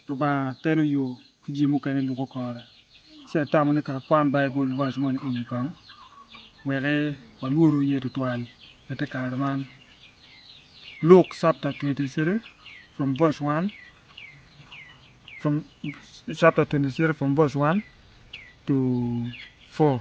Lubanga telo yo ki jami mukene lubo kore. Ci atamo ni ka akwan Baibul vac moni i wi gang, weke walworu iye tutwal. Pe te kare man. Luk chapter23 verse 1 to 4.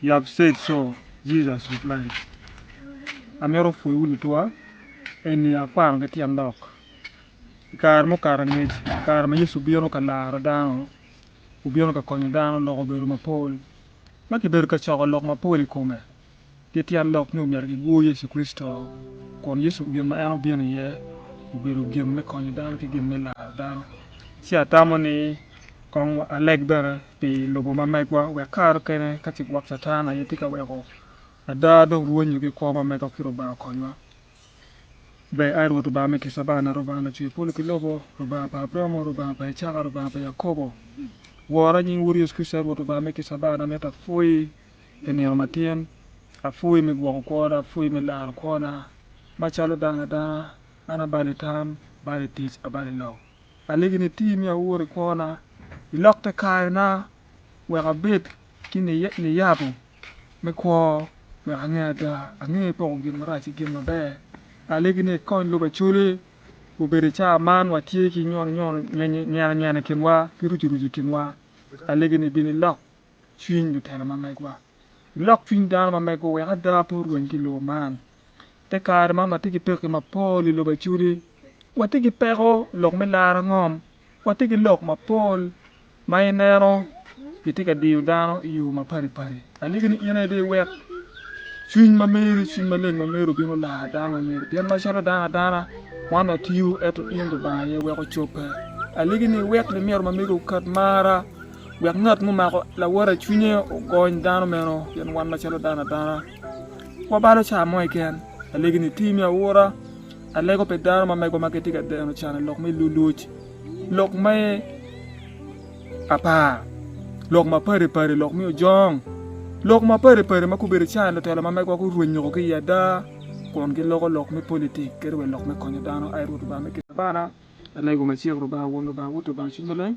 You have said so, Jesus replied. Amito opwoyiwu lutwa. Eni akwano ki tyen lok. I kare mukato angec, i kare ma Yecu obino ka laro dano, obino ka konyo dano loko bedo mapol. Ma kibedo ka coko lok mapol i kome, Pi tyen lok ni omyero gigur Yecu Kricito, kun Yecu gin ma en obino iye obedo gin me konyo dano ki gin me laro dano. Ci atamo ni kong aleg bene pi lobo ma megwa wek kare okene ka ci gwok Catan aye tye ka weko ada dong rwonyo ki kwo ma mega ki Lubanga okonywa. Ber ai Rwot Lubanga me kica bana, Lubanga lacwe polo ki lobo, Lubanga pa Abramo, Lubanga pa Icaka, Lubanga pa Yakobo. Wora nying Wodi Yecu Kricito ai Rwot Lubanga me kica bana, amito apwoyi. pi nino matin, apwoyi me gwoko kwona, apwoyi me laro kwona. Macalo dano adana, an abalo i tam, abalo i tic, abalo i lok. Alegi ni iti mi awur i kwona, ilok te kayona, wek abed ki niyabo me kwo, wek ange ada, ange poko gin marac ki gin maber. Alegi ni ikony lubacoli obed i caa man, watye ki nyono nyono, nyena nyena i kinwa, ki rucu rucu i kinwa. Alegi ni ibin ilok cwiny lutino ma megwa. Ilok cwiny dano ma mego wek ada pe orweny ki lobo man. I te kare man watye ki pekki mapol i lobo acudi. Watye ki peko lok me laro ngom. Watye ki lok mapol ma ineno gitye ka diyo dano i yo mapadi padi. Aliki ni in aye dong iwek cwiny ma meri, cwiny maleng ma meri obin olar dano ma meri. Pien macalo dano adana wan watiyo ento in Lubanga aye weko cobbe. Aliki ni iwek limiru ma megi oket marra. wek ngat mumako lawote cwinye ogony dano meno pien wan macalo dano adana wabalo ca mo keken alegi nitir me aura alego pi dano ma megowa ma gitye ka deno can ilok me luluc lok me apar lok mapadi padi lok me ojong lok mapadi padi ma gubedo can lutelo ma megowa gurwenyo ki i ada kun giloko lok me politik kadi wa lok me konyo dano aye rwot lubanga me kine bana alego macek lubanga won lubanga wot lubanga cwiny maleng